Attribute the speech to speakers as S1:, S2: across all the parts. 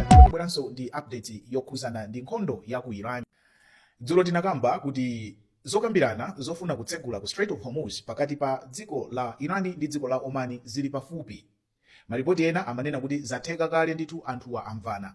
S1: tabweranso ndi update yokhuzana ndi nkhondo ya ku iran dzulo tinakamba kuti zokambirana zofuna kutsegula ku strait of hormuz pakati pa dziko la iran ndi dziko la oman zili pafupi malipoti ena amanena kuti zatheka kale ndithu anthuwa amvana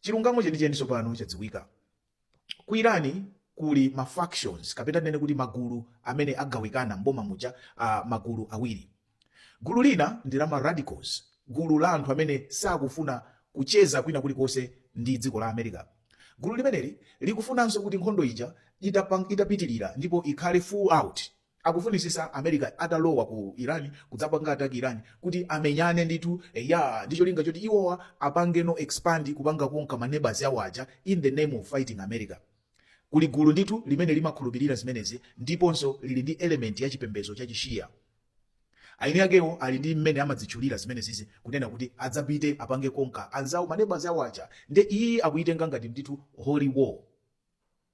S1: Chilungamo chenicheni tsopano chadziwika. Ku Iran kuli ma factions kapena tinene kuti magulu amene agawikana m'boma muja, a magulu awiri. Gulu lina ndi la ma radicals, gulu la anthu amene sakufuna kucheza kwina kulikonse ndi dziko la America. Gulu limeneli likufunanso kuti nkhondo ija itapitirira ndipo ikhale full out, Akufunisisa America atalowa ku Iran kudzapanga attack Iran kuti amenyane ndithu eya ndi cholinga choti iwowa apangeno expand kupanga conquer ma neighbors awo aja in the name of fighting America. Kuli gulu ndithu limene limakhulupilira zimenezi ndiponso lili ndi element ya chipembedzo cha chi Shia. Eni akewo ali ndi mmene amadzitchulira zimenezizi kunena kuti adzapite apange conquer anzawo ma neighbors awo aja nde iyi akuyitenga ngati ndithu holy war.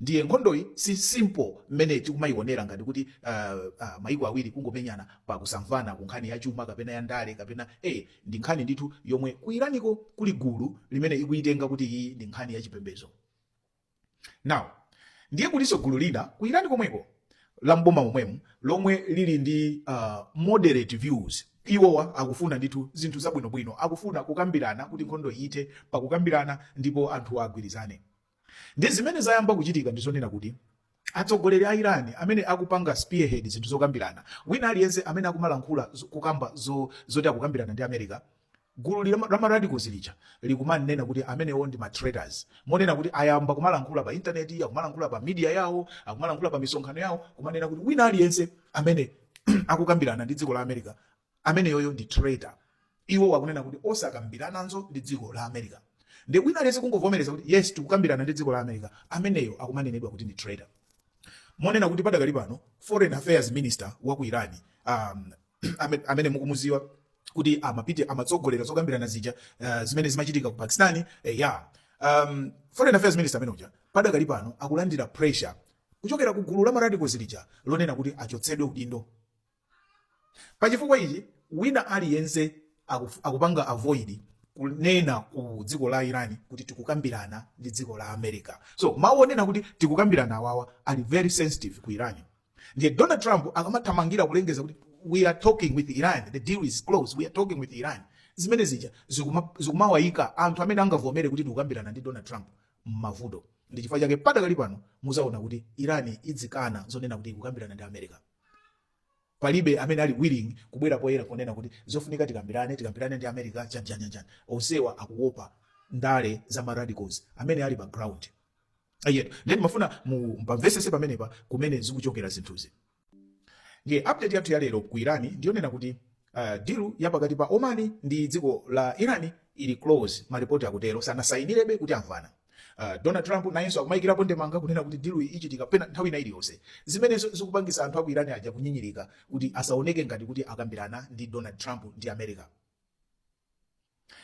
S1: ndiye nkhondoyi si simple mmene tikumayionera ngati kuti uh, uh, maiko awiri kungomenyana pa kusamvana ku nkhani ya chuma kapena ya ndale kapena eh, ndi nkhani ndithu yomwe ku iraniko kuli gulu limene ikuyitenga kuti iyi ndi nkhani ya chipembedzo now ndiye kulinso gulu lina ku irani komweko la mboma momwemo lomwe lili ndi uh, moderate views iwowa akufuna ndithu zinthu zabwinobwino akufuna kukambirana kuti nkhondo ithe pakukambirana ndipo anthu agwirizane Ndiye zimene zayamba kuchitika ndi zonena kuti atsogoleri a Iran amene akupanga spearhead zinthu zokambirana, wina aliyense amene akumalankhula zo- kukamba zo- zoti akukambirana ndi America, gulu li- la ma radicals lija likumanena kuti amenewo ndi ma traitors, monena kuti ayamba kumalankhula pa intaneti, akumalankhula pa media yawo, akumalankhula pa misonkhano yawo, kumanena kuti wina aliyense amene akukambirana ndi dziko la America ameneyoyo ndi traitor iwowa akunena kuti osakambirananso ndi dziko la america nde wina aliyense kungovomereza kuti yes tikukambirana ndi dziko la america ameneyo akumanenedwa kuti ndi traitor monena kuti padakali pano foreign affairs minister wa ku iran um, ame- amene mukumuziwa kuti amapite amatsogolera zokambirana zija uh, zimene zimachitika ku pakistani eh, ya um, foreign affairs minister amene uja padakali pano akulandira pressure kuchokera ku gulu la maradicals lija lonena kuti achotsedwe udindo Pa chifukwa ichi, wina aliyense akuf, akupanga avoid kunena ku dziko la Iran kuti tikukambirana ndi dziko la America. So mawu wonena kuti tikukambirana awawa ali very sensitive ku Iran. Ndiye Donald Trump akamathamangira kulengeza kuti we are talking with Iran, the deal is closed, we are talking with Iran. Zimene zija zikuma- zikumawaika anthu amene angavomere kuti tikukambirana ndi Donald Trump m'mavuto. Ndi chifukwa chake padakali pano muzaona kuti Iran idzikana zonena kuti ikukambirana ndi America. palibe amene ali willing kubwera poyera kunena kuti zofunika tikambirane tikambirane ndi america chanjanjanjani onsewa akuopa ndale za ma radicals amene ali pa ground ayetu then mafuna mu- mpamvesese pamenepa kumene zikuchokera zinthuzi ndiye update yathu ya lero ku iran ndiyonena kuti uh, deal ya pakati pa oman ndi dziko la iran ili close malipoti akutero sanasayinirebe kuti amvana Uh, Donald Trump nayenso akumayikirapo ndemanga kunena kuti deal iyi ichitika pena nthawi ina iliyonse zimene zo- zikupangisa anthu aku Iran aja kunyinyirika kuti asaoneke ngati kuti akambirana ndi Donald Trump ndi America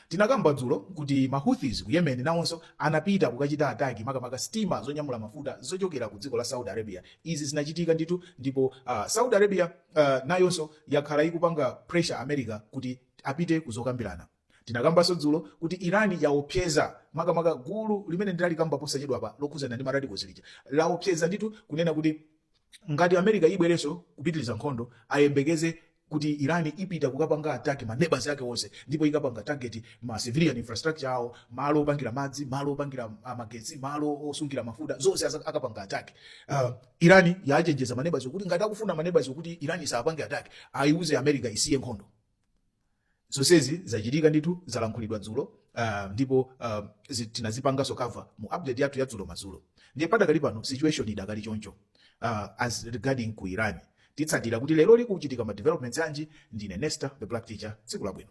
S1: tinakamba dzulo kuti ma Houthis ku Yemen nawonso anapita kukachita attack makamaka sitima zonyamula mafuta zochokera ku dziko la Saudi Arabia izi zinachitika ndithu ndipo uh, Saudi Arabia uh, nayonso yakhala ikupanga pressure America kuti apite kuzokambirana Tinakambanso dzulo kuti Iran yaopseza makamaka gulu limene ndinalikamba posachedwapa lokhudzana ndi ma radicals lija, laopseza ndithu kunena kuti ngati America ibwerenso kupitiliza nkhondo ayembekeze kuti Iran ipita kukapanga attack ma neighbours ake onse ndipo ikapanga target ma civilian infrastructure awo, malo opangira madzi, malo opangira magetsi, malo osungira mafuta, zonse akapanga attack. Uh, Iran yachenjeza ma neighbours wo kuti ngati akufuna ma neighbours wo kuti Iran isawapange attack, aiuze America isiye nkhondo. zonsezi zachitika ndithu zalankhulidwa dzulo uh, ndipo uh, zi- tinazipanganso cover mu update yathu ya dzulo madzulo ndiye padakali pano situation idakali choncho uh, as regarding ku iran titsatira kuti leroli kuchitika ma developments anji ndine nesta the black teacher tsiku labwino